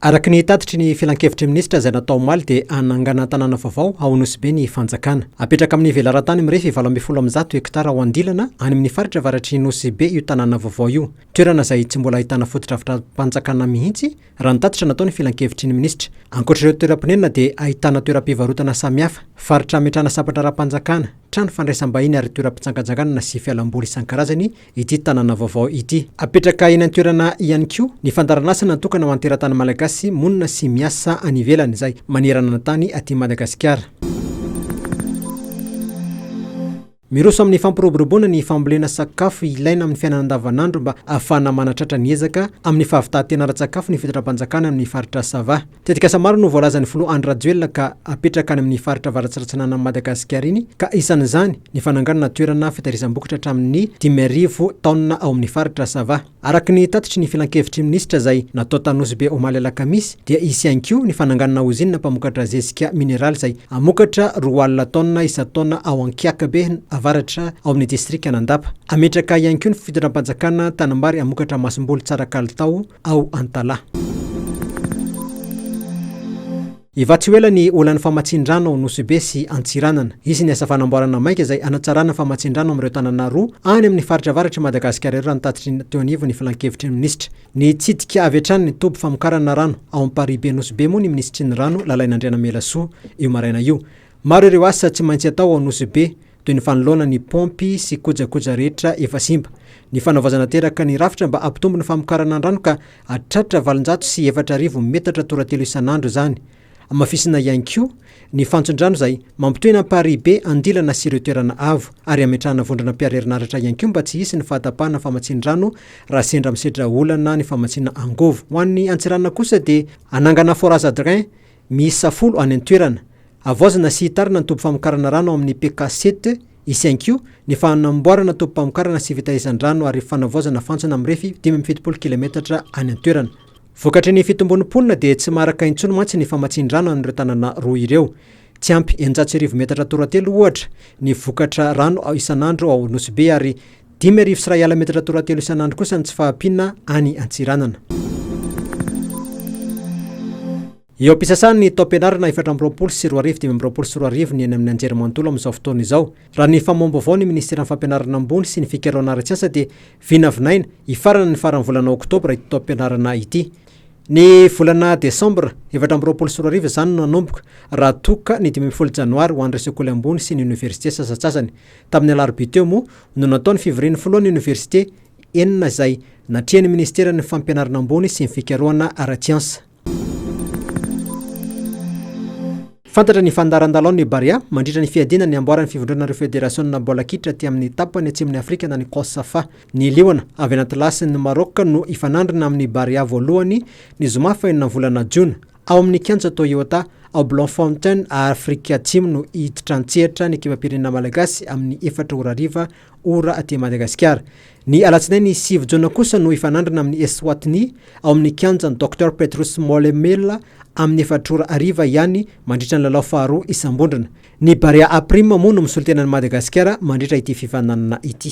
Araka ny tatitry ny filankevitry ny minisitra izay natao omaly dia hanangana tanàna vaovao ao Nosy-Be ny fanjakana. Hapetraka amin'ny velaran-tany mirefy valo ambin'ny folo amby zato hektara ao Andilana any amin'ny faritra avaratry Nosy-Be io tanàna vaovao io. Toerana izay tsy mbola ahitana fotodrafitram-panjakana mihitsy raha ny tatitra nataon'ny filankevitry ny minisitra. Ankoatr'ireo toeram-ponenana dia ahitana toeram-pivarotana samihafa, faritra hametrahana sabatra ara-panjakana, trano fandraisam-bahiny ary toeram-pitsangatsanganana sy fialamboly isan-karazany ity tanàna vaovao ity. Hapetraka eny an-toerana ihany koa ny fandaharan'asa natokana ho an'ny teratany malagasy monina sy miasa any ivelany izay manerana ny tany aty Madagasikara. Miroso amin'ny fampiroboroboana ny fambolena sakafo ilaina amin'ny fiainana andavanandro mba hahafahana manatratra ny ezaka amin'ny fahavitantena ara-tsakafo ny fitondram-panjakana amin'ny faritra Sava. Tetikasa maro no voalazan'ny filoha Andry Rajoelina ka hapetraka any amin'ny faritra avarats'Aratsinanan'i Madagasikara iny ka isan'izany ny fananganana toerana fitahirizam-bokatra hatramin'ny dimy arivo taonina ao amin'ny faritra Sava. Araka ny tatitry ny filankevitry minisitra izay natao tany Nosy Be omaly alakamisy dia hisy ihany koa ny fananganana ozinina mpamokatra zezika mineraly izay hamokatra roa alina taonina isan-taona ao Ankiakabe avaratra ao amin'ny distrikan'Andapa. Hametraka ihany koa ny fitondram-panjakana tanambary hamokatra masomboly tsara kalitao ao Antalaha. Hivaha tsy ho ela ny olan'ny famatsian-drano ao Nosy-Be sy Antsiranana. Hisy ny asa fanamboarana maika izay hanatsarana ny famatsian-drano amin'ireo tanàna roa any amin'ny faritra avaratr'i Madagasikara ireo raha ny tatitry ny teo anivon'ny filankevitry ny minisitra. Nitsidika avy hatrany ny toby famokarana rano ao Amparibe Nosy-Be moa ny minisitry ny rano, Lalaina Andrianamelasoa, io maraina io. Maro ireo asa tsy maintsy atao ao Nosy-Be, toy ny fanoloana ny paompy sy kojakoja rehetra efa simba, ny fanaovaizana teraka ny rafitra mba hampitombo ny famokarana an-drano ka hahatratra valonjato sy efatra arivo metatra toratelo isan'andro izany. Hamafisina ihany koa ny fantson-drano izay mampitohy ny amparihibe andilana sy ireo toerana avo ary hametrahana vondrona mpiarherinaratra ihany koa mba tsy hisy ny fahatapahana famatsian-drano raha sendra misedra olana ny famatsiana angovo. Ho an'ny Antsiranana kosa dia hanangana forage à drain miisa folo any an-toerana. Havaozina sy hitarina ny toby famokarana rano ao amin'ny PK Site Isiankiho ny fanamboarana tobim-pamokarana sy fitaizan-drano ary fanavaozana fantsona mirefy dimy amby fitopolo kilaometatra any an-toerana. Vokatry ny fitombon'ny mponina dia tsy maharaka intsony mantsy ny famatsian-drano an'ireo tanàna roa ireo. Tsy ampy eninjato sy arivo metatra toratelo, ohatra, ny vokatra rano isan'andro ao Nosy Be ary Dimy arivo sy iray ala metatra toratelo isan'andro kosa ny tsy fahampiana any Antsiranana. Eo am-pisasahan'ny taom-pianarana efatra amby roapolo sy roa arivo dimy amby roapolo sy roa arivo ny eny amin'ny anjerimanontolo amin'izao fotoana izao. Raha ny famoaham-baovao ny minisiteran'ny Fampianarana ambony sy ny fikarohana ara-tsiansa dia vinavinaina hifarana ny faran'ny volana oktobra ity taom-pianarana ity. Ny volana desambra efatra amby roapolo sy roa arivo izany no nanomboka, raha toa ka ny dimy ambin'ny folo janoary ho an'ireo sekoly ambony sy ny oniversite sasantsasany. Tamin'ny alarobia teo moa no natao ny fivorian'ny filohan'ny oniversite enina izay natrehan'ny minisiteran'ny Fampianarana ambony sy ny fikarohana ara-tsiansa. Fantatra ny fandaharandalaon'ny Barea mandritra ny fiadiana ny amboaran'ny fivondronan'ireo federasiona baolina kitra aty amin'ny tapany atsimon'i Afrika na ny Cosafa. Ny liona avy any Atlasy ny Maroc no hifanandrina amin'ny Barea voalohany ny zoma fahenina volana jona. Ao amin'ny kianja Toyota ao Bloemfontein Afrika Atsimo no hiditra an-tsehatra ny ekipam-pirenena malagasy amin'ny efatra ora hariva ora aty Madagasikara. Ny alatsinainy sivy jona kosa no hifanandrina amin'ny Eswatini ao amin'ny kianjan'i Docteur Petrus Molemela amin'ny efatra ora hariva ihany mandritra ny lalao faharoa isam-bondrona. Ny Barea Aprima moa no misolotena an'i Madagasikara mandritra ity fifaninanana ity.